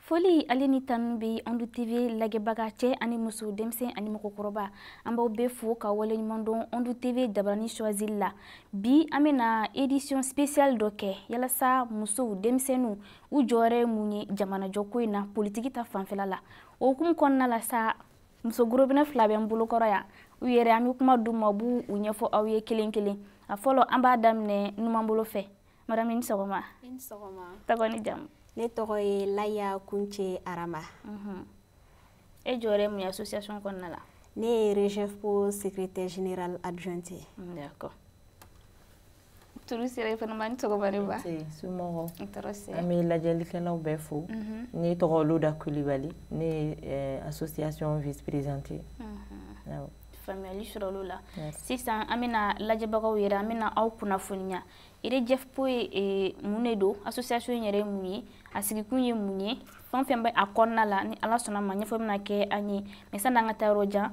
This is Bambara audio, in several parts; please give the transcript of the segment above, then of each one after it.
foli ale ni tanu bɛ andu tv lajɛbaga cɛ ani muso denmisɛn ani mɔgɔkɔrɔba an b'aw bɛɛ fo k'aw waleɲuman dɔn andu tv jabarani choisili la bi an bɛna édition spéciale dɔ kɛ yalasa musow denmisɛnninw u jɔyɔrɔ ye mun ye jamanajɔko in na politiki ta fanfɛla la o hukumu kɔnɔna la sa muso gorobinɛ fila bɛ n bolokɔrɔ yan u yɛrɛ an bɛ kuma d'u ma u b'u ɲɛfɔ aw ye kelen kelen a fɔlɔ an b'a daminɛ numanbolo fɛ madame i ni sɔgɔma tɔgɔ ni jamu ne tɔgɔ ye laya kunce arama mhm. e jɔyɔrɔ ye mun ye association kɔnɔna la ne ye rejefpo secrétaire générale adjointe d'accord tulu sira i fana ma ni sɔgɔma ne ba somɔgɔw an bɛ lajɛlikɛlaw bɛɛ fo mhm. ne tɔgɔ olu da kulibali ne ye eh, association vice présidente mhm. faamuyali sɔrɔla o la sisan an bɛna lajɛbagaw yɛrɛ an bɛna aw kunnafoniya rejefpo ye eh, mun de don association yɛrɛ ye mun ye a sigikun ye mun ye fɛn o fɛn bɛ a kɔnɔna la ni ala sɔnna a ma ɲɛfɔ bɛna kɛ an ye mais sanni an ka taa yɔrɔ jan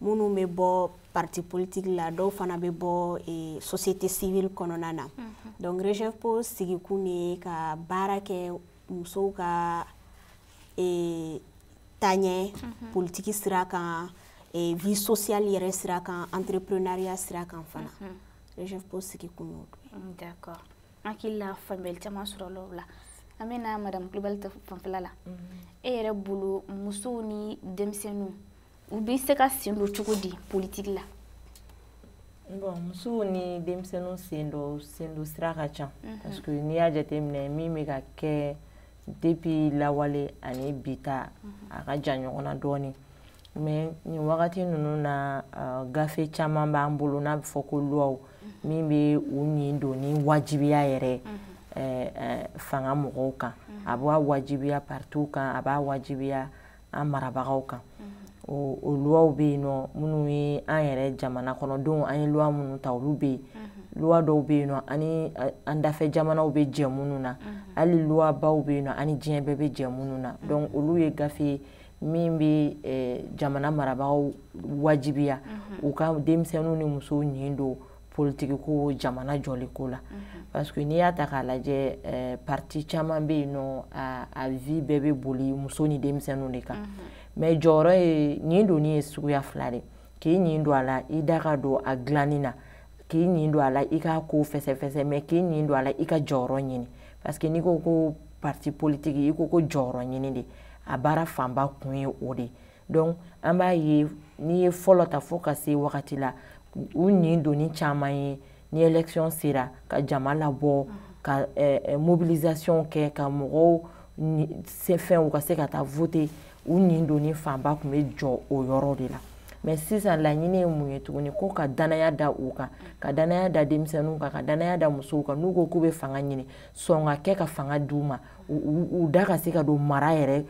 minnu bɛ bɔ parti politique la dɔw fana bɛ bɔ eh, société civile kɔnɔna na mm -hmm. donc rejefpo sigikun de ye ka baara kɛ musow ka eh, taaɲɛ mm -hmm. politiki sira kan eh, vie sociale yɛrɛ sira kan entrepreneuriat sira kan fana mm -hmm. rejefpo sigikun y'o mm, d'accord an hakili la faamuyali caman sɔrɔla o la an bɛ na madame kulibali ta fanfɛla la mm -hmm. e yɛrɛ bolo musow ni denmisɛnninw u bɛ se ka sen don cogo di politiki la bon musow ni denmisɛnninw sen dɔ sen don sira ka ca mhm. parce que n'i y'a jateminɛ min bɛ ka kɛ depuis lawale ani bi ta mhm. a ka jan ɲɔgɔn na dɔɔnin mais nin wagati ninnu na uh, gafe caman b'an bolo n'a bɛ fɔ ko luwaw mhm. min bɛ u nin donni wajibiya yɛrɛ eh, eh, fanga mɔgɔw kan a b'a wajibiya partiw kan a b'a wajibiya an marabagaw kan o o luwaw bɛ yen nɔ minnu ye an yɛrɛ jamana kɔnɔdenw an ye luwa minnu ta olu bɛ yen luwa dɔw bɛ yen nɔ an ni an dafɛ jamanaw bɛ jɛ minnu na hali luwabaw bɛ yen nɔ an ni diɲɛ bɛɛ bɛ jɛ minnu na donc olu ye gafe ye min bɛ eh, jamana marabagaw wajibiya u ka denmisɛnninw ni musow nin don politiki ko jamana jɔli ko la mhm. parce que n'i y'a ta k'a lajɛ eh, parti caman bɛ yen nɔ a, a vie bɛɛ bɛ boli muso ni denmisɛnninw de kan mhm. mais jɔyɔrɔ ye nin donni ye suguya fila de k'i nin don a la i da ka don a dilanni na k'i nin don a la i ka ko fɛsɛfɛsɛ mais k'i nin don a la i ka jɔyɔrɔ ɲini parce que n'i ko ko parti politiki i ko ko jɔyɔrɔ ɲini de a baara fanba kun ye o de ye donc an b'a ye n'i ye fɔlɔ ta fo ka se wagati la u nin donni caman ye ni élection sera ka jama labɔ ka eh, eh, mobilisation kɛ ka mɔgɔw se fɛn u ka se ka taa voter u nin donni fanba tun bɛ jɔ o yɔrɔ de la mais sisan laɲini ye mun ye tuguni ko ka danaya da u kan ka danaya da denmisɛnninw kan ka danaya da musow kan n'u ko k'u bɛ fanga ɲini sɔn ka kɛ ka fanga di u ma u da ka se ka don mara yɛrɛ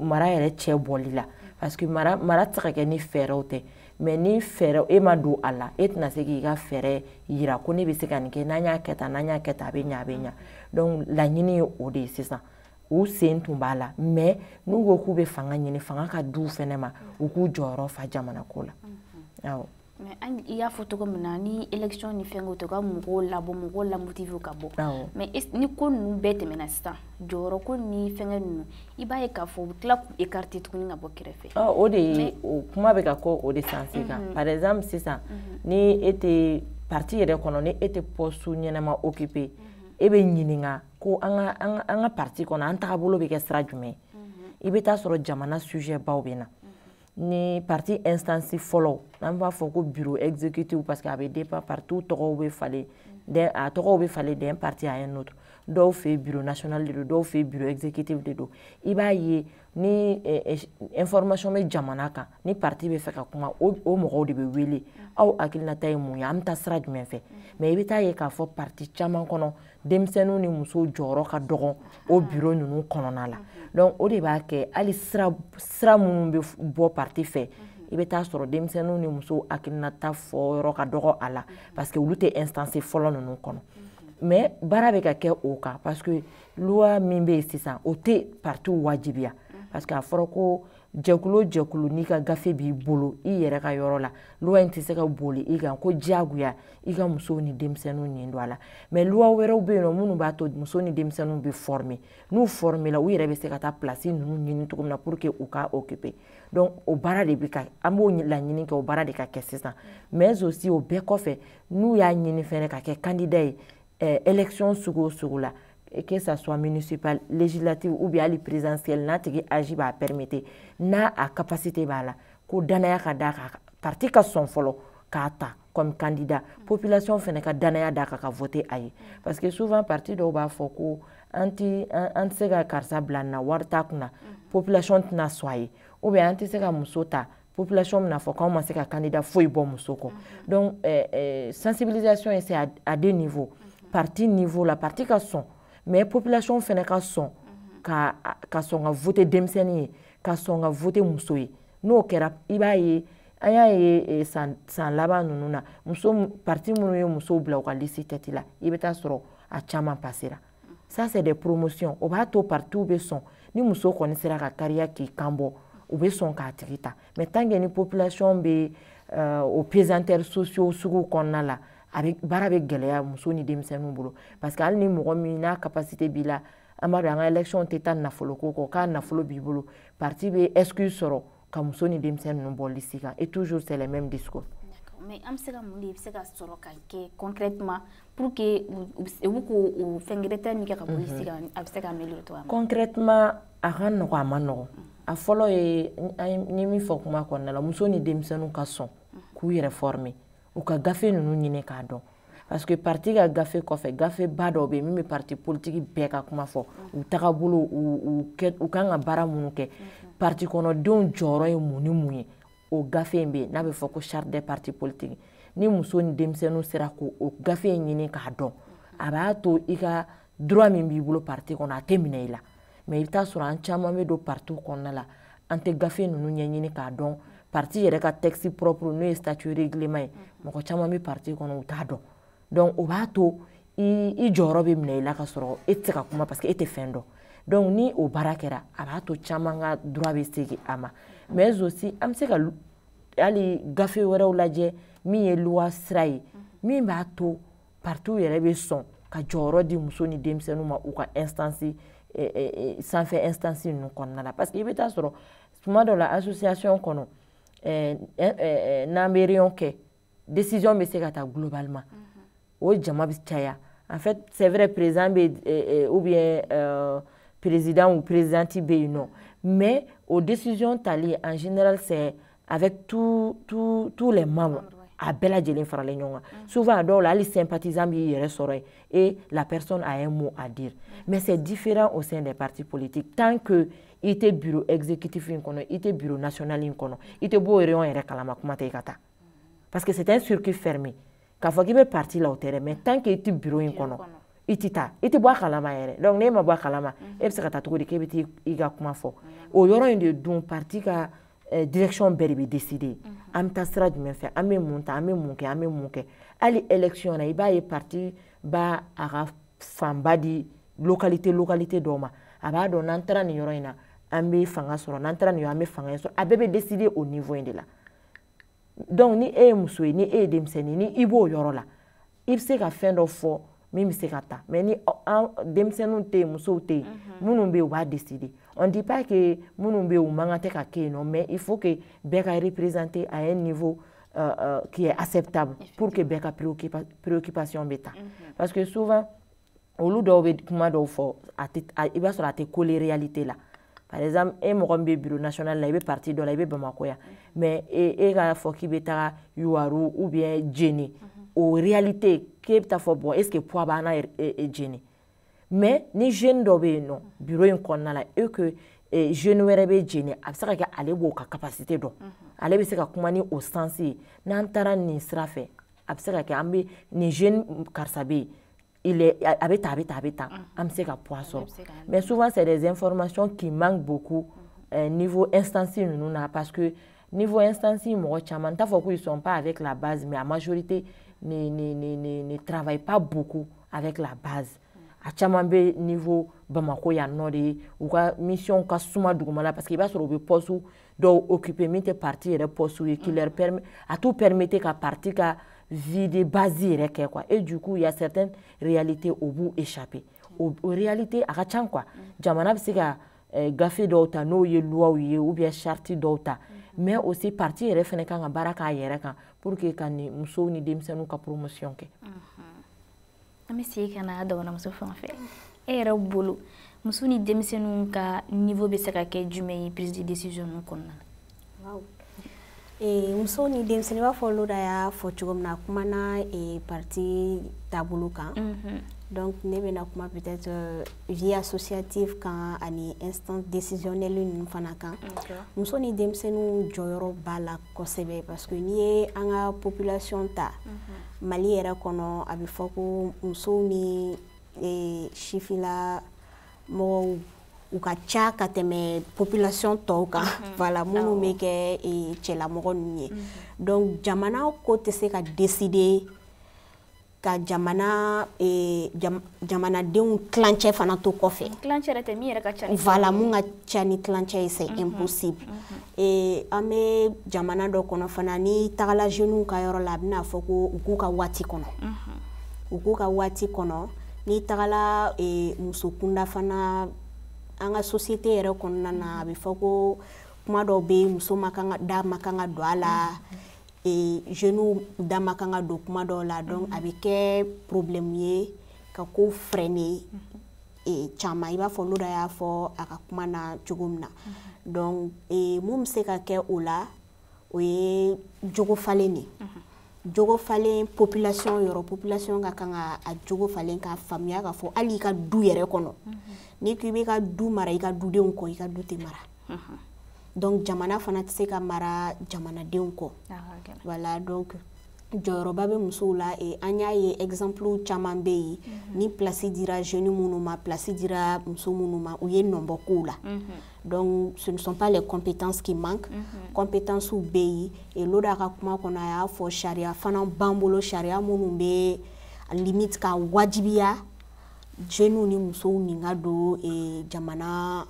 mara yɛrɛ cɛ bɔli la parce que mara mara tɛ se ka kɛ ni fɛɛrɛw tɛ mais ni fɛɛrɛ e ma don a la e tɛna se k'i ka fɛɛrɛ yira ko ne bɛ se ka nin kɛ n'an y'a kɛ tan n'an y'a kɛ tan a bɛ ɲa a bɛ ɲa donc laɲini ye o de ye sisan u sen tun b'a la mais n'u ko k'u bɛ fanga ɲini fanga ka d'u fɛnɛ ma u k'u jɔyɔrɔ fa jamana ko la awɔ mais an i y'a fɔ cogo min na ni élection ni fɛn ko tɛ ka mɔgɔw labɔ mɔgɔw lamotiver ka bɔ mais ni ko ninnu bɛɛ tɛmɛna sisan jɔyɔrɔ ko ni fɛngɛ ninnu i b'a ye k'a fɔ u bɛ tila k'u écarter tuguni ka bɔ kɛrɛfɛ ah, o de ye o kuma bɛ ka kɛ o de changer kan mm-hmm. par exemple sisan mm-hmm. ni e tɛ parti yɛrɛ kɔnɔ ni e tɛ poste ɲɛnama occuper mm-hmm. e bɛ ɲininka ko an ka an ka an ka parti kɔnɔ an tagabolo bɛ kɛ sira jumɛn i bɛ taa sɔrɔ jamana sujet baw bɛ na ni parti instance fɔlɔ n'an b'a fɔ ko bureau exécutif parce que a bɛ dépend partiw tɔgɔw bɛ falen d'un a tɔgɔw bɛ falen d'un parti à un autre dɔw fɛ bureau national de don dɔw fɛ bureau exécutif de don i b'a ye ni eh, eh, information bɛ jamana kan ni parti bɛ fɛ ka kuma o mɔgɔw de bɛ wele aw hakilinata ye mun ye an bɛ taa sira jumɛn fɛ mais i bɛ taa ye k'a fɔ parti caman kɔnɔ denmisɛnninw ni musow jɔyɔrɔ ka dɔgɔn o biro ninnu kɔnɔna la donc o de b'a kɛ hali sira sira minnu bɛ bɔ parti fɛ i bɛ taa sɔrɔ denmisɛnninw ni musow hakilinata fɔyɔrɔ ka dɔgɔ a la parce que olu tɛ instance fɔlɔ ninnu kɔnɔ mais baara bɛ ka kɛ o kan parce que loi min bɛ yen sisan o tɛ partiw wajibiya parce que a fɔra ko jɛkulu jɛkulu n'i ka gafe b'i bolo i yɛrɛ ka yɔrɔ la loi in tɛ se ka boli i kan ko diyagoya i ka musow ni denmisɛnninw nin don a la mais loi wɛrɛw bɛ yen nɔ minnu b'a to muso ni denmisɛnninw bɛ former n'u former la u yɛrɛ bɛ se ka taa place ninnu ɲini cogo min na pour que u ka occuper donc o baara de bɛ ka an b'o laɲini kɛ o baara de ka kɛ sisan mais aussi o bɛɛ kɔfɛ n'u y'a ɲini fɛnɛ ka kɛ candidat ye eh, élection sugu o sugu la que ça soit municipale législative ou bien hali présidentielle n'a tigi âge b'a permettre n'a a capacité b'a la ko danaya ka d'a kan parti ka sɔn fɔlɔ k'a ta comme candidat population fɛnɛ ka danaya d'a kan ka voter a ye parce que souvent parti dɔw b'a fɔ ko an tɛ an tɛ se ka karisa bila nin na wari t'a kunna population tɛna sɔn a ye ou bien an tɛ se ka muso ta population bɛn'a fɔ k'aw ma se ka candidat foyi bɔ muso kɔ donc euh, euh, sensibilisation ye c'est à, à deux niveaux parti niveau la parti ka sɔn mais population fɛnɛ ka sɔn ka ka sɔn ka vote denmisɛnnin ye ka sɔn ka vote muso ye n'o kɛra i b'a ye an y'a ye eh, san san laban ninnu na muso parti minnu ye musow bila u ka lisi tɛti la i bɛ taa sɔrɔ a caman pasera ça c'est des promotions o b'a to parti bɛ sɔn ni muso kɔni sera ka kariya k'i kan bɔ u bɛ sɔn k'a tigi ta mais tant que ni population bɛ euh, o pesanteur sociaux sugu kɔnɔna la a bɛ baara bɛ gɛlɛya muso ni denmisɛnninw bolo parce que hali ni mɔgɔ min n'a capacité b'i la an b'a dɔn an ka élection tɛ taa nafoloko kɔ k'a nafolo b'i bolo parti bɛ excuse sɔrɔ ka muso ni denmisɛn ninnu bɔ lisi kan et toujours c'est le même discours mais an bɛ se ka mun de bɛ se ka sɔrɔ ka kɛ concrètement pour que u bɛ k'o o fɛn gɛrɛntɛ min kɛ ka bɔ lisi kan a bɛ se ka améliorer cogoya min na concrètement a ka nɔgɔn a man nɔgɔn a fɔlɔ ye n ye min fɔ kuma kɔnɔna la muso ni denmisɛnninw ka sɔn k'u yɛrɛ former u ka gafe ninnu ɲini k'a dɔn parce que parti ka gafe kɔfɛ gafe ba dɔ bɛ yen min bɛ parti politiki bɛɛ ka kuma fɔ u tagabolo u kan ka baara minnu kɛ parti kɔnɔdenw jɔyɔrɔ ye mun ni mun ye o gafe in bɛ yen n'a bɛ fɔ ko charte des partis politiques ni muso ni denmisɛnninw sera k'o gafe in ɲini k'a dɔn a b'a to i ka droit min b'i bolo parti kɔnɔ a tɛ minɛ i la mais i bɛ taa sɔrɔ an caman bɛ don parti kɔnɔna la an tɛ gafe ninnu ɲɛɲini k'a dɔn parti yɛrɛ ka texte propre n'o ye statut règlement ye mɔgɔ caman bɛ parti kɔnɔ u t'a dɔn donc o b'a to i jɔyɔrɔ bɛ minɛ i la ka sɔrɔ e tɛ se ka kuma parce que e tɛ fɛn dɔn donc ni o baara kɛra a b'a to caman ka droit bɛ segin a ma mais aussi an bɛ se ka hali gafe wɛrɛw lajɛ min ye loi sira ye min b'a to partiw yɛrɛ bɛ sɔn ka jɔyɔrɔ di muso ni denmisɛnninw ma u ka instance eh, eh, eh, sanfɛ instance ninnu kɔnɔna la parce que i bɛ taa sɔrɔ tuma dɔ la association kɔnɔ n'an bɛ réunion kɛ décision bɛ se ka ta globalement mhm. o jama bɛ caya en fait c'est vrai président bɛ ou bien euh, président ou présidente bɛ yen nɔ mais o décision tali en général c'est avec tous les membres a bɛɛ lajɛlen faralen ɲɔgɔn kan mm. souvent a dɔw la hali sympathisant b'i yɛrɛ sɔrɔ yen et la personne a un mot à dire mm. mais c'est différent au sein des partis politiques tant que i tɛ bureau exécutif in kɔnɔ i tɛ bureau national in kɔnɔ i tɛ b'o réunion yɛrɛ kalama kuma tɛ i ka taa mm. parce que c'est un circuit fermé k'a fɔ k'i bɛ parti la o tɛ dɛ mais tant que i tɛ bureau in kɔnɔ i tɛ taa i tɛ bɔ a kalama yɛrɛ donc n'e ma bɔ a kalama e bɛ se ka taa cogo di k'e bɛ t'i i ka kuma fɔ o yɔrɔ in de dun parti ka eh, direction bɛɛ de bɛ décider an bɛ taa sira jumɛn fɛ an bɛ mun ta an bɛ mun kɛ an bɛ mun kɛ hali élection na i b'a ye parti b'a a ka fanga di localité localité dɔw ma a b'a dɔn n'an taara nin yɔrɔ in na an bɛ fanga sɔrɔ n'an taara nin yɔrɔ an bɛ fanga in sɔrɔ a bɛɛ bɛ décider o niveau in de la. donc ni e ye muso ye ni e ye denmisɛnnin ni i b'o yɔrɔ la i bɛ se ka fɛn dɔ fɔ min bɛ se ka ta mais ni an denmisɛnninw tɛ yen musow tɛ yen mhm. minnu bɛ yen u b'a décider on dit pas que minnu bɛ yen u man kan tɛ ka kɛ yen nɔ mais il faut que bɛɛ ka représenter à un niveau euh, euh, qui est acceptable pour que bɛɛ ka préoccupation bɛ ta mhm. parce que souvent olu dɔw bɛ kuma dɔw fɔ a tɛ i b'a sɔrɔ a tɛ coller réalité la par exemple e mɔgɔ min bɛ bureau national la i bɛ parti dɔ la i bɛ bamakɔ yan mais e, e k'a fɔ k'i bɛ taga yuwaru ou bien jɛnɛ o réalité k'e bɛ taa fɔ bon est ce que poids b'an na e, e, jɛnɛ mais ni jeune dɔ bɛ yen nɔ bureau in kɔnɔna la et que e, jeune wɛrɛ bɛ jɛnɛ a bɛ se ka kɛ ale b'o ka capacité dɔn ale bɛ se ka kuma ni o sens ye n'an taara nin sira fɛ a bɛ se ka kɛ an bɛ nin jeune karisa bɛ yen il est, a bɛ tan a bɛ tan a bɛ tan an bɛ se ka poids sɔrɔ mais souvent c'est des informations qui manquent beaucoup euh, niveau instance ninnu na parce que niveau instance mɔgɔ caman n t'a fɔ ko ils sont pas avec la base mais la majorité ne ne ne ne ne travaille pas beaucoup avec la base a caman bɛ niveau Bamako yan nɔ de ye u ka mission ka suma duguma la parce que i b'a sɔrɔ u bɛ poste dɔw occupé min tɛ parti yɛrɛ poste ye qui leur permet a t'u permettre ka parti ka vie de base yɛrɛ kɛ quoi et du coup il y a certaines réalités o b'u échapper o réalité a ka ca nka jamana bɛ se ka eh, gafe dɔw ta n'o ye loiw ye ou bien charte dɔw ta mais aussi parti yɛrɛ fana kan ka baara k'a yɛrɛ kan pour que ka nin musow ni denmisɛnninw ka promotion kɛ. an bɛ segin ka na dɔgɔnɔmuso fan fɛ e yɛrɛ bolo muso ni denmisɛnninw ka niveau bɛ se ka kɛ jumɛn ye prise de décision ninnu kɔnɔna na waaw ee muso ni denmisɛnnin i b'a fɔ loda y'a fɔ cogo min na a kumana ee parti taabolo kan mhm. donc ne bɛna kuma peut-être euh, vie associative kan ani instance décisionnelle ninnu fana kan muso ni denmisɛnninw jɔyɔrɔ b'a la kosɛbɛ parce que n'i ye an ka population ta mhm. mali yɛrɛ kɔnɔ a bɛ fɔ ko musow ni e, sifinna mɔgɔw u ka ca ka tɛmɛ population tɔw kan mhm. voilà minnu bɛ kɛ e, cɛlamɔgɔ ninnu ye mhm. donc jamana ko tɛ se ka décider ka jamana eh, jam, jamanadenw tilancɛ fana to kɔfɛ wala mun ka ca ni tilancɛ ye c'est mm -hmm. impossible mm -hmm. eh, an bɛ jamana dɔ kɔnɔ fana n'i tagala jeunes ka yɔrɔ la a bɛna fɔ ko u k'u ka waati kɔnɔ mm -hmm. u k'u ka waati kɔnɔ n'i tagala eh, muso kunda fana an ka société yɛrɛ kɔnɔna na a bɛ fɔ ko kuma dɔw bɛ muso man kan ka da man kan ka don a la mm -hmm. e, jeunes da man kan ka don kuma dɔw la donc a bɛ kɛ problème ye ka ko freiner e, caman i b'a fɔ Loda y'a fɔ a ka kuma na cogo min na donc e, mun bɛ se ka kɛ o la o ye jogo falen de jogo falen population yɔrɔ population ka kan ka a jogo falen k'a faamuya k'a fɔ hali i ka du yɛrɛ kɔnɔ n'i ko i b'i ka du mara i ka dudenw kɔ i ka du tɛ mara donc jamana fana tɛ se ka mara jamanadenw kɔ voilà donc jɔyɔrɔba bɛ musow la eh, an y'a ye exemple caman bɛ yen mhm. ni place dira jeune minnu ma place dira muso minnu ma u ye nɔ bɔ kow la mhm. donc ce ne sont pas les compétences qui manquent mhm. compétences bɛ yen et Loda ka kuma kɔnɔ a y'a fɔ sariya fana b'an bolo sariya minnu bɛ limite k'a wajibiya jeunes ni musow nin ka don eh, jamana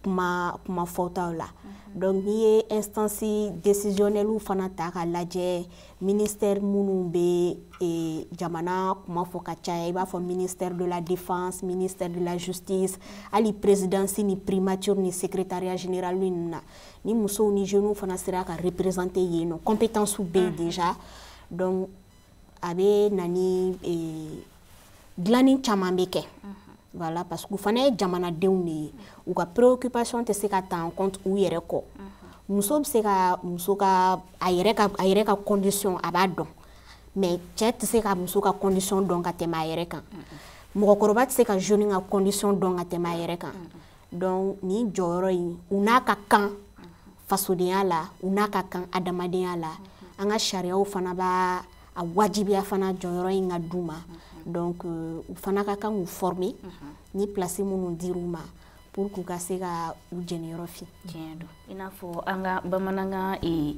kuma kuma fɔtaw la mhm. donc n'i ye instance décisionnelle fana ta k'a lajɛ ministère minnu bɛ e, jamana kuma fɔ ka caya i b'a fɔ ministère de la défense ministère de la justice hali présidence ni primature ni secrétariat général ninnu na ni musow ni jeunes fana sera ka représenter yen nɔ compétences bɛ yen mhm. déjà donc a bɛ na ni dilanni caman bɛ kɛ voilà parce que u fana ye jamanadenw de ye u ka préoccupation tɛ se ka ta en compte u yɛrɛ kɔ muso bɛ se ka muso ka a yɛrɛ ka a yɛrɛ ka condition a b'a dɔn mais cɛ tɛ se ka muso ka condition dɔn ka tɛmɛ a yɛrɛ kan mɔgɔkɔrɔba tɛ se ka jeune ka condition dɔn ka tɛmɛ a yɛrɛ kan donc nin jɔyɔrɔ in u n'a ka kan fasodenya la u n'a ka kan adamadenya la an ka sariyaw fana b'a a wajibiya fana jɔyɔrɔ in ka d'u ma donc euh, u fana ka kan k'u former ni place minnu dir'u ma pour k'u ka se ka u jeniyɔrɔ fin tiɲɛ don i n'a fɔ an ka bamanankan ee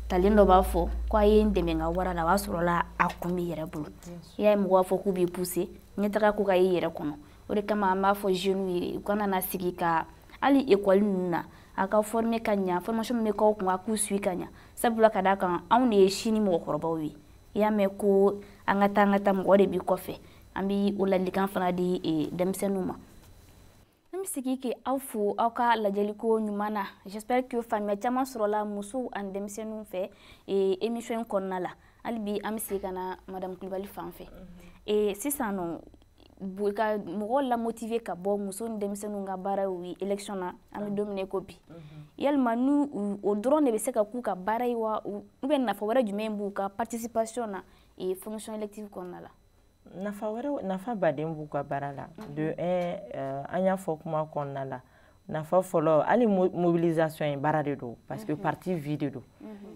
ntalen dɔ b'a fɔ ko a ye n dɛmɛ n ka wara la o b'a sɔrɔla a kun b'i yɛrɛ bolo i y'a ye mɔgɔ b'a fɔ k'u b'i pousser ɲɛtaga ko ka y'i yɛrɛ kɔnɔ o de kama an b'a fɔ jeunes ye u kana na sigi ka hali ekɔli ninnu na a ka former ka ɲa formation min bɛ k'aw kun a k'u suit ka ɲa sabula ka d'a kan anw de ye sini mɔgɔkɔrɔbaw ye i y'a mɛn ko an ka taa an ka taa mɔgɔ de b'i kɔfɛ an bɛ o ladilikan fana di e, denmisɛnninw ma an bɛ segin ka aw fo aw ka lajɛliko ɲuman na j'espère que faamuya caman sɔrɔla musow ani denmisɛnninw fɛ e, émission in kɔnɔna la hali bi an bɛ segin ka na madame kulubali fan fɛ mhm. e, sisan nɔ ka mɔgɔ lamotive ka bɔ muso ni denmisɛnninw ka baara ye élection na an bɛ don min na ko bi mhm. yalima n'o dɔrɔn de bɛ se ka k'u ka baara ye wa ou bien nafa wɛrɛ jumɛn b'u ka participation na ee fonction élective kɔnɔna la nafa wɛrɛ nafaba de b'u ka baara la mhm. de un an y'a fɔ kuma kɔnɔna la nafa fɔlɔ hali mobilisation ye baara de don parce que mhm. parti vie de don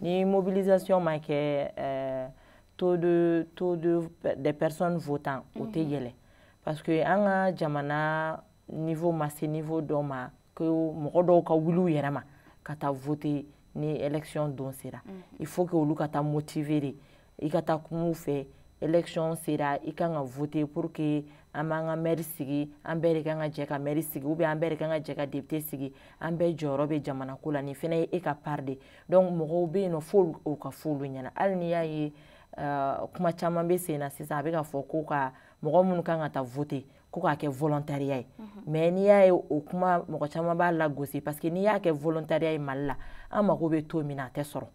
ni mobilisation ma kɛ taux de taux de des personnes votant o tɛ mhm. yɛlɛn parce que an ka jamana niveau ma se niveau dɔ ma ko mɔgɔ dɔw ka wuli u yɛrɛ ma ka taa voter ni élection don sera mhm. il faut que olu ka taa motiver de i ka taa kuma u fɛ élection sera i kan ka voter pour que an b'an ka maire sigi an bɛɛ de kan ka jɛ ka maire sigi ou bien an bɛɛ de kan ka jɛ ka député sigi an bɛɛ jɔyɔrɔ bɛ jamana ko la nin fana ye e ka part de ye donc mɔgɔw bɛ yen nɔ fo o ka fɔ olu ɲɛna hali n'i y'a ye uh, kuma caman bɛ sen na sisan a bɛ ka fɔ ko ka mɔgɔ minnu kan ka taa vote ko k'a kɛ volontariya ye mais n'i y'a ye o kuma mɔgɔ caman b'a lagosi parce que n'i y'a kɛ volontariya ye mali la an mago bɛ taux min na a tɛ sɔrɔ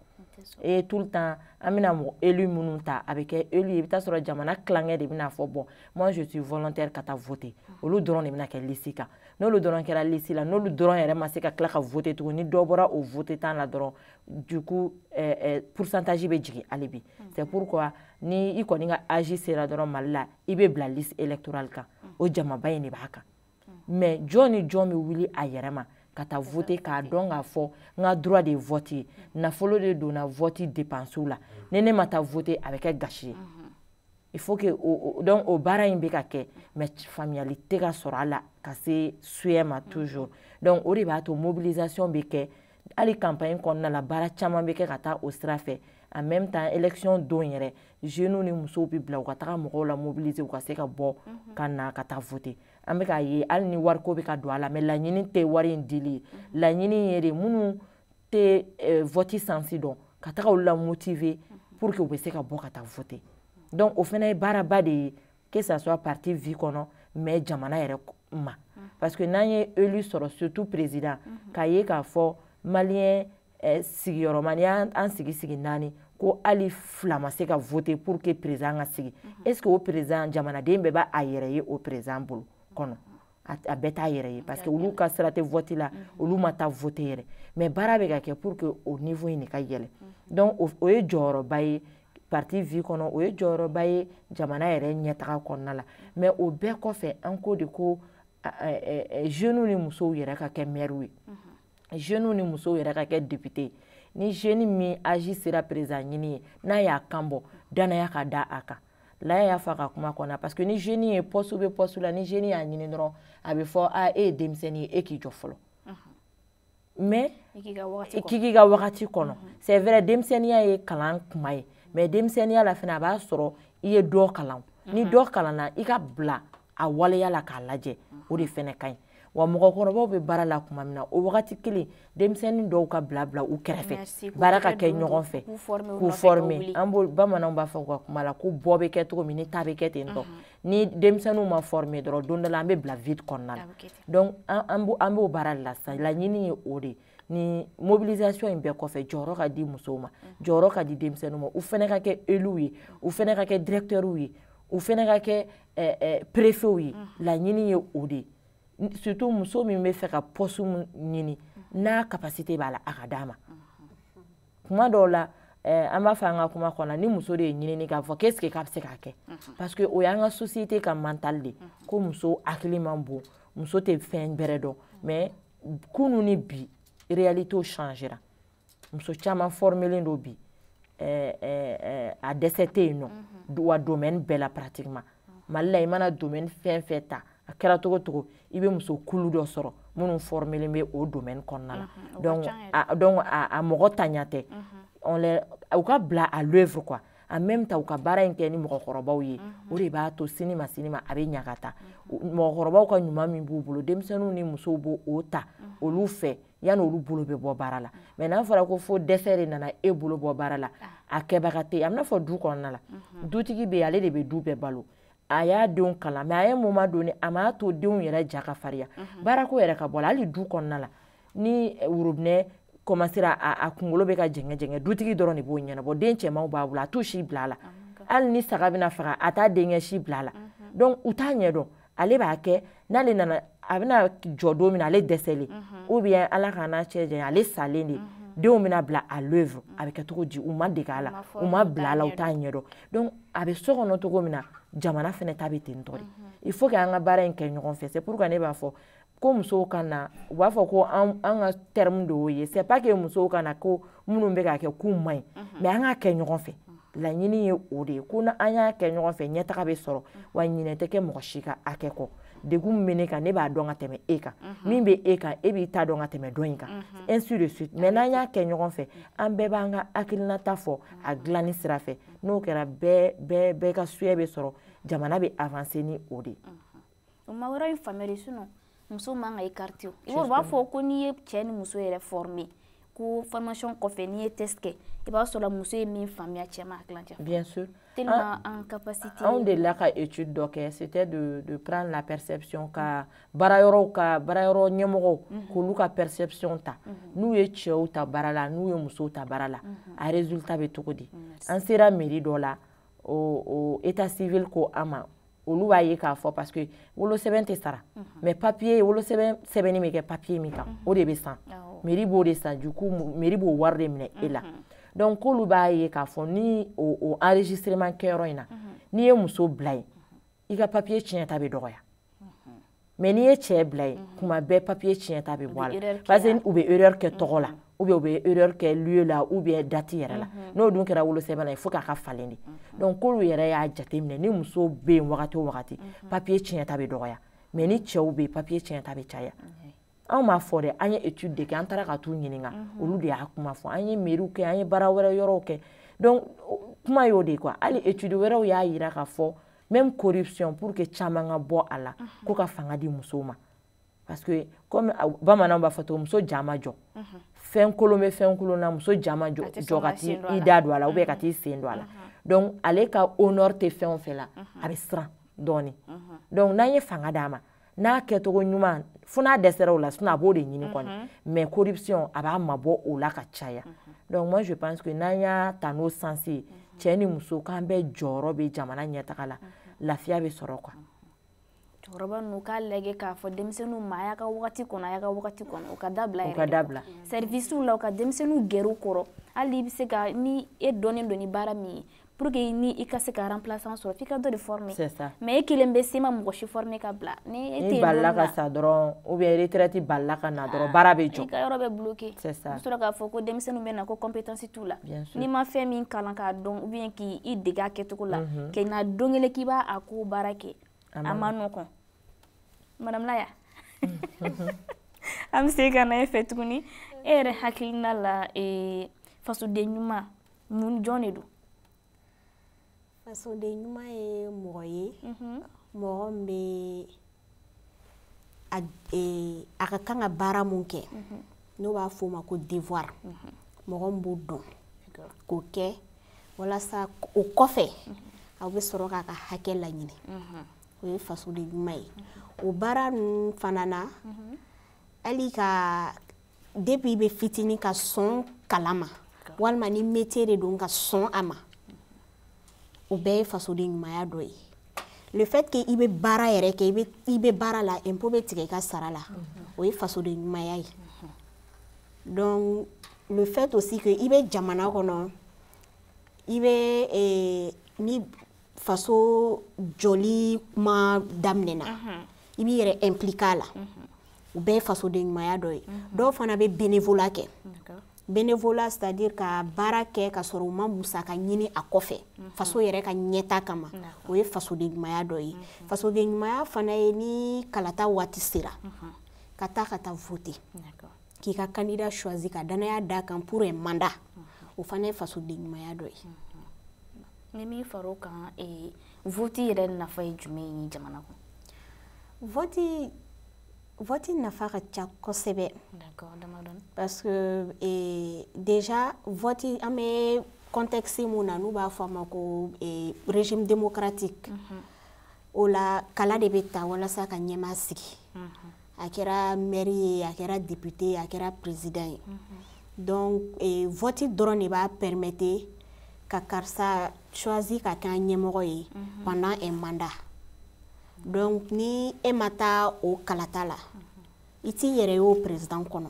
et tout le temps an bɛna mɔgɔ élu minnu ta a bɛ kɛ élu ye i bɛ taa sɔrɔ jamana tilankɛ de bɛna fɔ bon moi je suis volontaire ka taa voter olu dɔrɔn de bɛna kɛ liste kan n'olu dɔrɔn kɛra lisi la n'olu dɔrɔn yɛrɛ ma se ka tila ka vote tugun ni dɔ bɔra o votants la dɔrɔn du coup eh, eh, pourcentage bɛ jigin hali bi mm. c'est pourquoi ni i kɔni ka âge sera dɔrɔn mali la i bɛ bila liste électorale kan mm. o jamaba in de b'a kan mm. mais jɔn ni jɔn bɛ wuli a yɛrɛ ma ka taa vote k'a dɔn k'a fɔ n ka droit de ye vote ye nafolo de donna vote dépense la ni ne ma taa vote a bɛ kɛ gâchis ye mm-hmm. il faut que o donc o baara in bɛ ka kɛ mais faamuyali tɛ ka sɔrɔ a la ka se souhait ma toujours donc o de b'a to mobilisation bɛ kɛ hali campagne kɔnɔna la baara caman bɛ kɛ ka taa o sira fɛ en même temps élection don yɛrɛ jeunes ni musow bɛ bila u ka taga mɔgɔw lamobiliser u ka se ka bɔ mhm. ka na ka taa voter an bɛ k'a ye hali ni wariko bɛ ka don a la mais laɲini tɛ wari in dili ye mhm. laɲini ye de minnu tɛ eh, vɔti sansi dɔn ka taga olu lamotive pour que u bɛ se ka bɔ ka taa vote donc o fana ye baaraba de ye que ça soit parti vie kɔnɔ mais jamana yɛrɛ ma parce que n'an ye élu sɔrɔ surtout président k'a ye k'a fɔ maliyɛn eh, sigiyɔrɔma n'i y'an sigi sigi naani ko hali fila ma se ka vote pour que président ka sigi est ce que o président jamanaden bɛɛ b'a a yɛrɛ ye o président bolo kɔnɔ a bɛɛ t'a yɛrɛ ye parce que olu ka sira tɛ vote la mm-hmm. olu ma taa vote yɛrɛ mais baara bɛ ka kɛ pour que o niveau in de ka yɛlɛ mm-hmm. donc o ye jɔyɔrɔba ye parti vie kɔnɔ o ye jɔyɔrɔba ye jamana yɛrɛ ɲɛtaga kɔnɔna la mm-hmm. mais o bɛɛ kɔfɛ an ko de ko jeunes ni musow yɛrɛ ka kɛ maire ye jeunes ni musow yɛrɛ ka kɛ député ye ni jeune min âge sera président ɲini ye n'a y'a kan bɔ danaya ka da a kan laya y'a fɔ a ka kuma kɔnɔ parce que ni jeune ye poste bɛ poste la ni jeune y'a ɲini dɔrɔn a bɛ fɔ a e ye denmisɛnnin ye e k'i jɔ fɔlɔ mais i k'i ka wagati kɔnɔ c'est vrai denmisɛnninya ye kalan kuma ye mais denmisɛnninya la fana a b'a sɔrɔ i ye dɔ kalan ni dɔ kalanna i ka bila a waleya la k'a lajɛ o de fana ka ɲi wa mɔgɔkɔrɔbaw bɛ baara la tuma min na o wagati kelen denmisɛnnin dɔw ka bila bila u kɛrɛfɛ baara ka kɛ ɲɔgɔn fɛ k'u forme an b'o bamananw b'a fɔ u ka kuma la ko bɔ bɛ kɛ cogo min ni ta bɛ kɛ ten tɔ ni denmisɛnninw ma forme dɔrɔn don dɔ la an bɛ bila vide kɔnɔna la donc an b'o baara de la sisan laɲini ye o de ye ni mobilisation in bɛɛ kɔfɛ jɔyɔrɔ ka di musow ma jɔyɔrɔ ka di denmisɛnninw ma u fana ka kɛ éluw ye u fana ka kɛ directeurs ye u fana ka kɛ perefew ye laɲini ye o de ye surtout muso min b'a fɛ ka poste ɲini n'a capacité b'a la a ka d'a ma kuma dɔw la an b'a fɔ an ka kuma kɔnɔ ni muso de ye ɲinini k'a fɔ ko est-ce que a bɛ se k'a kɛ parce que o y'an ka société ka mental de ko muso hakili man bon muso tɛ fɛn bɛrɛ dɔn mais kunu ni bi réalité changera muso caman fɔrmelen don bi eh, eh, eh, a dɛsɛ tɛ yen nɔ mhm. wa domɛni bɛɛ la pratiquement mhm. mali la i mana domɛni fɛn fɛn ta a kɛra cogo cogo i bɛ muso kulu dɔ sɔrɔ minnu fɔrmelen bɛ o domɛni kɔnɔna la mhm, donc a donc a mɔgɔ ntanya tɛ on les u ka bila à l'œuvre quoi en même temps u ka baara in kɛ ni mɔgɔkɔrɔbaw ye o de b'a to sini ma sini ma a bɛ ɲa ka taa mɔgɔkɔrɔbaw ka ɲuman min b'u bolo denmisɛnninw ni musow b'o o ta olu fɛ yanni olu bolo bɛ bɔ baara la mais n'a fɔra ko fo dɛsɛ de nana e bolo bɔ baara la a kɛbaga tɛ a bɛ n'a fɔ du kɔnɔna la dutigi bɛ ale de bɛ du bɛɛ balo a y'a denw kalan mais à un moment donné a m'a to denw yɛrɛ ja ka fariya baarako yɛrɛ ka bɔ la hali du kɔnɔna la ni worobinɛ kɔmansera a kunkolo bɛ ka jɛngɛ jɛngɛ dutigi dɔrɔn de b'o ɲɛnabɔ den cɛmanw b'a bolo a t'u si bila a la hali ni saga bɛna faga a t'a denkɛ si bila a la donc u t'a ɲɛdɔn ale b'a kɛ n'ale nana a bɛna jɔ don min na ale dɛsɛlen ou bien ala k'an n'a cɛ janya ale salen de denw bɛna bila à l'œuvre a bɛ kɛ cogo di u ma dege a la u ma bila a la u t'a ɲɛdɔn donc a bɛ so kɔnɔ cogo min na jamana fana ta bɛ ten tɔ de il faut que an ka baara in kɛ ɲɔgɔn fɛ c'est pourquoi ne b'a fɔ ko musow ka na u b'a fɔ ko an ka terme de y'o ye c'est pas que musow ka na ko minnu bɛ k'a kɛ k'u man ɲi mhm. mais an k'a kɛ ɲɔgɔn fɛ laɲini ye o de ye ko n'an y'a kɛ ɲɔgɔn fɛ ɲɛtaga bɛ sɔrɔ mhm. wa ɲinɛ tɛ kɛ mɔgɔ si ka hakɛ kɔ degun min bɛ ne kan ne b'a dɔn ka tɛmɛ e kan mhm. min bɛ e kan e b'i ta dɔn ka tɛmɛ dɔ in kan ainsi de suite mais n'an y'a kɛ ɲɔgɔn fɛ an bɛɛ b'an ka hakilinata fɔ a dilanni sira fɛ n'o kɛra bɛɛ bɛɛ bɛɛ ka souhait bɛ sɔrɔ jamana bɛ avancer ni o de ye. o ma yɔrɔ in faamuyali sinon muso man ka écarté o i b'a b'a fɔ ko n'i ye cɛ ni muso yɛrɛ former ko formation kɔfɛ n'i ye test kɛ i b'a sɔrɔ muso ye min faamuya cɛ ma tilancɛ bien sûr tellement an capacité anw delila ka étude dɔ kɛ c'était de de prendre la perception ka baara yɔrɔw ka baara yɔrɔ ɲɛmɔgɔw mhm. k'olu ka perception ta mhm. n'u ye cɛw ta baara la n'u ye musow ta baara la mhm. a résultat bɛ cogo di an sera mairie dɔ la o o état civil ko an ma olu b'a ye k'a fɔ parce que wolosɛbɛn tɛ sara mhm. mais papier wolosɛbɛn sɛbɛnni bɛ kɛ papier min kan mhm. o de bɛ san mairie b'o de san donc mairie b'o wari de minɛ e la mhm. donc k'olu b'a ye k'a fɔ ni o o enregistrement kɛyɔrɔ in na n'i ye muso bila yen i ka papier tiɲɛta bɛ dɔgɔya mais n'i ye cɛ bila yen mhm. tuma bɛɛ papier tiɲɛta bɛ bɔ a la parce que u bɛ erreur kɛ tɔgɔ la mhm. ou bien u bɛ erreur kɛ lieu la ou bien date yɛrɛ la mhm. n'o dun kɛra wolosɛbɛn la il faut k'a ka falen de donc k'olu yɛrɛ y'a jateminɛ ni muso bɛ yen wagati o wagati papier tiɲɛta bɛ dɔgɔya mais ni cɛw bɛ yen papier tiɲɛta bɛ caya anw m'a fɔ dɛ an ye étude de kɛ an taara ka t'u ɲininka olu de y'a kuma fɔ an ye mairie kɛ an ye baara wɛrɛ yɔrɔw kɛ donc kuma y'o de ye quoi hali étude wɛrɛw y'a jira k'a fɔ même corruption pour que caman ka bɔ a la ko ka fanga di musow ma parce que comme bamananw b'a fɔ cogo muso ja ma jɔ fɛn kolon bɛ fɛn kolon na muso ja ma jɔ ka t'i i da don a la ou bien ka t'i sen don a la donc ale ka honneur tɛ fɛn o fɛn la a bɛ siran dɔɔnin donc n'an ye fanga d'a ma n'a kɛcogo ɲuman fo n'a dɛsɛra o la sinon a b'o de ɲini kɔni mhm. mais corruption a b'a mabɔ o la ka caya mhm. donc moi je pense que n'an y'a ta n'o sens ye mhm. cɛ ni muso k'an bɛɛ jɔyɔrɔ bɛ jamana ɲɛtaga la lafiya bɛ sɔrɔ quoi cɛkɔrɔba ninnu k'a lajɔ k'a fɔ denmisɛnninw ma a y'a ka wagati kɔnɔ a y'a ka wagati kɔnɔ u k'a dabila yɛrɛ u k'a dabila sɛrivisiw la u ka denmisɛnninw gɛrɛ u kɔrɔ hali i bɛ se ka ni e dɔnnen don ni baara min ye pour que ni i ka se ka remplaçant sɔrɔ f'i ka dɔ de former mais e kelen bɛ se ma mɔgɔ si former ka bila ni e tɛ balila ka sa dɔrɔn ou bien retraite balila ka na dɔrɔn ah, baara bɛ jɔ i ka yɔrɔ bɛ bloquer c'est ça i sɔrɔ k'a fɔ ko denmisɛnninw bɛ na ko compétence t'u la n'i ma fɛn min kalan k'a dɔn ou bien k'i i dege a kɛcogo la mhm. k'i na don kelen k'i b'a ko baara kɛ a man nɔgɔn madame Laya an bɛ segin ka na e fɛ tuguni e yɛrɛ hakilina la fasoden ɲuman mun jɔn de don fasoden ɲuman ye mɔgɔ ye mhm. mɔgɔ min bɛ a e, ka kan ka baara mun kɛ mhm. n'u b'a fɔ o ma ko devoir mhm. mɔgɔ min b'o dɔn k'o kɛ walasa o kɔfɛ aw bɛ sɔrɔ k'a ka hakɛ laɲini o ye fasoden ɲuman ye o baara ninnu fana na hali ka depuis i bɛ fitinin ka sɔn kala ma walima ni métier de don ka sɔn a ma o bɛɛ ye fasoden ɲumanya dɔ ye le fait que i bɛ baara yɛrɛ kɛ i bɛ baara la impôt bɛ tigɛ i ka sara la o ye fasoden ɲumanya ye donc le fait aussi que i bɛ jamana kɔnɔ i bɛ eh, ni faso jɔli kuma daminɛna i b'i yɛrɛ impliquer a la o bɛɛ ye fasoden ɲumanya dɔ ye dɔw fana bɛ bénévolat kɛ bénévolat c'est à dire ka baara kɛ ka sɔrɔ u ma musaka ɲini a kɔfɛ mhm. faso yɛrɛ ka ɲɛta kama o ye fasoden ɲumanya dɔ ye mhm. fasoden ɲumanya fana ye ni kalata waati sera mhm. ka taa ka taa vote k'i ka candidat choisi ka danaya d'a kan pour un mandat o fana ye fasoden ɲumanya dɔ ye ni min far'o kan ee voti yɛrɛ nafa ye jumɛn ye jamana kɔnɔ voti voti nafa ka ca kosɛbɛ parce que ee déjà voti an bɛ contexte mun na n'u b'a fɔ a ma ko ee régime démocratique mm -hmm. o la kala de bɛ ta walasa ka ɲɛmaa sigi mm -hmm. a kɛra maire ye a kɛra député ye a kɛra président ye donc eh, vote dɔrɔn de b'a permettre ka karisa choisi ka kɛ an ɲɛmɔgɔ ye pendant un mandat donc ni e ma taa o kalata la i t'i yɛrɛ ye o président kɔnɔ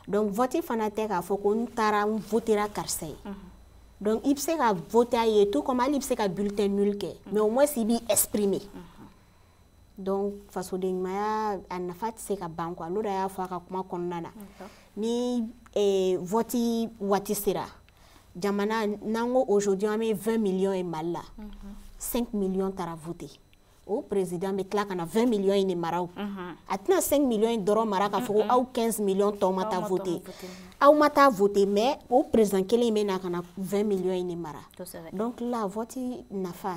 donc vote fana tɛ k'a fɔ ko n taara n votera karisa ye donc i bɛ se ka vote a ye tout comme hali i bɛ se ka bulletin nul kɛ mais au moins i b'i exprimer donc fasodenɲumaya a nafa tɛ se ka ban quoi loda y'a fɔ a ka kuma kɔnɔna na ni eh, vɔti waati sera jamana n'an ko aujourd'hui an bɛ 20 millions ye mali la 5 mhm. millions taara vote o président bɛ tila ka na 20 millions in de mara o mhm. a tɛna 5 millions in dɔrɔn mara k'a fɔ ko mhm. aw 15 millions tɔw ma taa vote aw ma taa vote mais o président kelen in bɛ na ka na 20 millions in de mara donc la vote nafa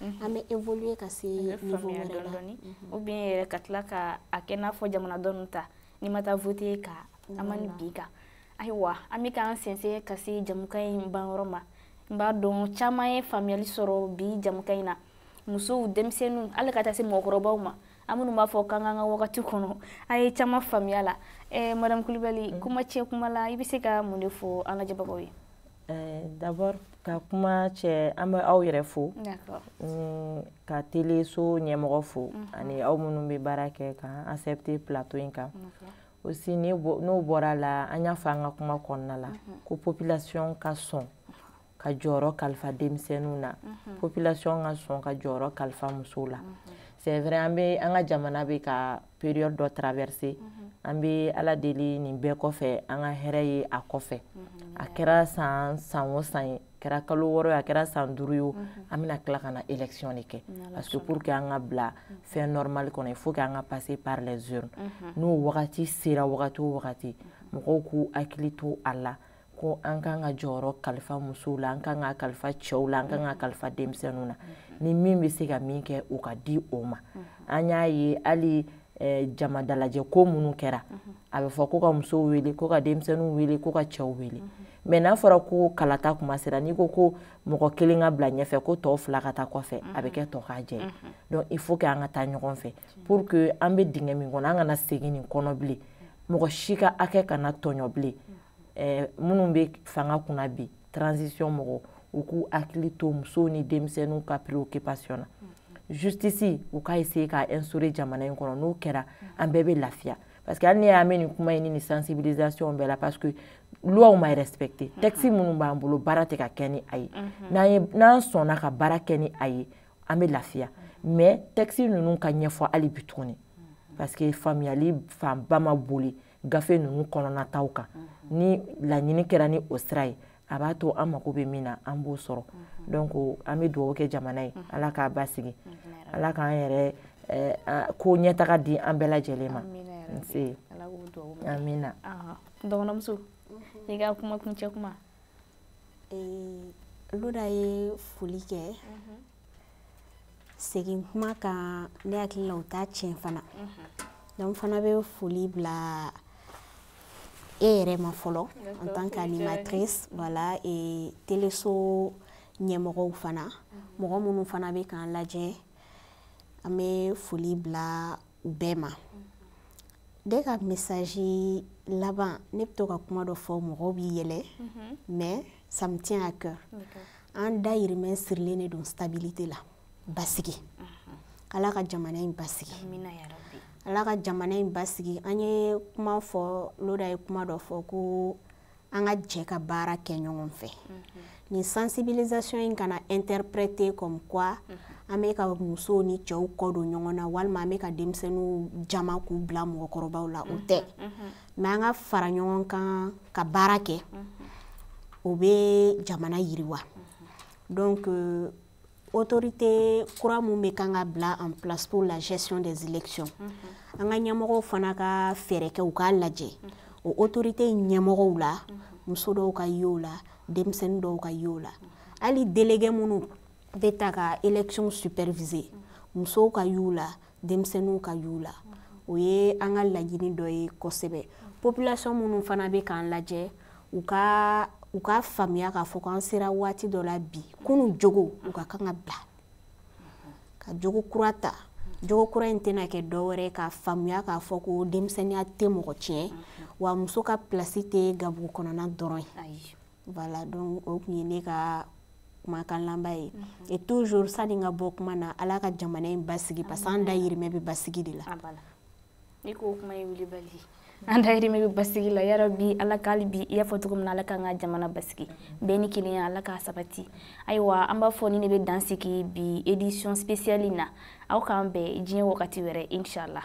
mhm. an bɛ évoluer ka se niveau wɛrɛ la ou bien yɛrɛ ka tila ka a kɛ n'a fɔ jamanadenw ta n'i ma taa voter ka an ma ni bi kan ayiwa an bɛ k'an sɛnsɛn ka se jɛmukan in ban yɔrɔ ma n b'a dɔn caman ye faamuyali sɔrɔ bi jɛmukan in na musow denmisɛnninw hali ka taa se mɔgɔkɔrɔbaw ma an minnu b'a fɔ k'an k'an ka wagati kɔnɔ an ye caman faamuya la eh, madame kulibali mm. kuma kuncɛ kuma la i bɛ se ka mun de fɔ an lajɛbagaw ye eh, d'abord ka kuma kuncɛ an bɛ aw yɛrɛ fo mm, ka teleso ɲɛmɔgɔ fo mhm. ani aw minnu bɛ baara kɛ k'an accepter plateau in kan aussi n'o bɔra la an y'a fɔ an ka kuma kɔnɔna la mhm. ko population ka sɔn ka jɔyɔrɔ kalifa denmisɛnninw na mhm. population ka sɔn ka jɔyɔrɔ kalifa musow la c'est vrai an bɛ an ka jamana bɛ ka période dɔ traverser mhm. an bɛ ala deli nin bɛɛ kɔfɛ an ka hɛrɛ ye a kɔfɛ mhm. a kɛra san san o san ye a kɛra kalo wɔɔrɔ ye o a kɛra san duuru ye o mhm. an bɛna tila ka na élection de kɛ parce que pour que an ka bila fɛn normal kɔnɔ il faut que an ka passer par les urnes n'o wagati sera wagati o wagati mɔgɔw k'u hakili to a la ko an kan ka jɔyɔrɔ kalifa musow la an kan ka kalifa cɛw la an kan ka kalifa denmisɛnninw na ni min bɛ se ka min kɛ o ka di o ma an y'a ye hali eh, jama dalajɛ ko minnu kɛra a bɛ fɔ ko ka musow wele ko ka denmisɛnninw wele ko ka cɛw wele mais n'a fɔra ko kalata kuma sera n'i ko ko mɔgɔ kelen ka bila ɲɛfɛ ko tɔw fila ka taa kɔfɛ a bɛ kɛ tokajɛ ye donc il faut que an ka taa ɲɔgɔn fɛ pour que an bɛ dingɛ min kɔnɔ an kana segin nin kɔnɔ bilen mɔgɔ si ka hakɛ kana tɔɲɔ bilen eh, minnu bɛ fanga kunna bi transition mɔgɔw k'u hakili to musow ni denmisɛnninw ka préoccupation na justice u ka essayer ka instaurer jamana in kɔnɔ n'o kɛra an bɛɛ bɛ lafiya parce que hali n'i y'a mɛn nin kuma in ni nin sensibilisation bɛɛ la parce que luwaw ma respecter mhm. texte minnu b'an bolo baara tɛ ka kɛ ni a ye mhm. n'an ye n'an sɔnna ka baara kɛ ni a ye an bɛ lafiya mhm. mais texte ninnu ka ɲɛfɔ hali bi tuguni parce que faamuyali fanba ma boli gafe ninnu kɔnɔna taw kan ni laɲini kɛra ni o sira ye a b'a to an mako bɛ min na an b'o sɔrɔ donc an bɛ dugawu kɛ jamana ye ala k'a basigi ala k'an yɛrɛ eh, ko ɲɛtaga di an bɛɛ lajɛlen ma nse amina dɔgɔnɔmuso i ka kuma kuncɛ kuma loda ye foli kɛ segin kuma kan ne hakili la o t'a tiɲɛ fana donc an fana bɛ foli bila e yɛrɛ ma fɔlɔ en tant qu'animatrice la teleso ɲɛmɔgɔw fana mɔgɔ minnu fana bɛ k'an lajɛ an bɛ foli bila bɛɛ ma ne ka message laban ne bɛ to ka kuma dɔ fɔ mɔgɔw bɛ yɛlɛ mhm. mais ça me tient à cœur an dayirimɛ sirilen de don stabilité la basigi mhm. ala ka jamana in basigi ala ka jamana in basigi an ye kuma fɔ loda ye kuma dɔ fɔ ko an ka jɛ ka baara kɛ ɲɔgɔn fɛ nin sensibilisation in kana interpréter comme quoi an bɛ ka musow ni cɛw kɔ don ɲɔgɔn na walima an bɛ ka denmisɛnninw jama k'u bila mɔgɔkɔrɔbaw la o tɛ mais an ka fara ɲɔgɔn kan ka baara kɛ o bɛ jamana yiriwa donc euh, autorité kura mun bɛ kan ka bila en place pour la gestion des élections mhm. an ka ɲɛmɔgɔw fana ka fɛɛrɛ kɛ u k'a lajɛ mhm. o autorité ɲɛmɔgɔw la mhm. muso dɔw ka ye o la denmisɛnnin dɔw ka ye o la hali délégué minnu bɛ ta ka élection superviser musow ka y'u la denmisɛnninw ka y'u la o ye an ka laɲini dɔ ye kosɛbɛ population minnu fana bɛ k'an lajɛ u ka u ka faamuya k'a fɔ ko an sera waati dɔ la bi kunun jogow ka kan ka bila ka jogo kura ta jogo kura in tɛna kɛ dɔ wɛrɛ ka faamuya k'a fɔ ko denmisɛnninya tɛ mɔgɔ tiɲɛ wa muso ka pilasi tɛ gabugu kɔnɔna dɔrɔn ye voilà donc o tun ye ne ka kumakan laban ye mhm. et toujours sani n ka bɔ kuma na ala ka jamana in basigi parce que an dayirimɛ bɛ basigi de la n'i ko kuma ye wulibali an dayirimɛ bɛ basigi la yɔrɔ bi ala k'ale bi i y'a fɔ cogo min na ala k'an ka jamana basigi bɛn ni kelenya ala k'a sabati ayiwa an b'a fɔ ni ne bɛ dan sigi bi édition spéciale in na aw k'an bɛn diɲɛ wagati wɛrɛ inchallah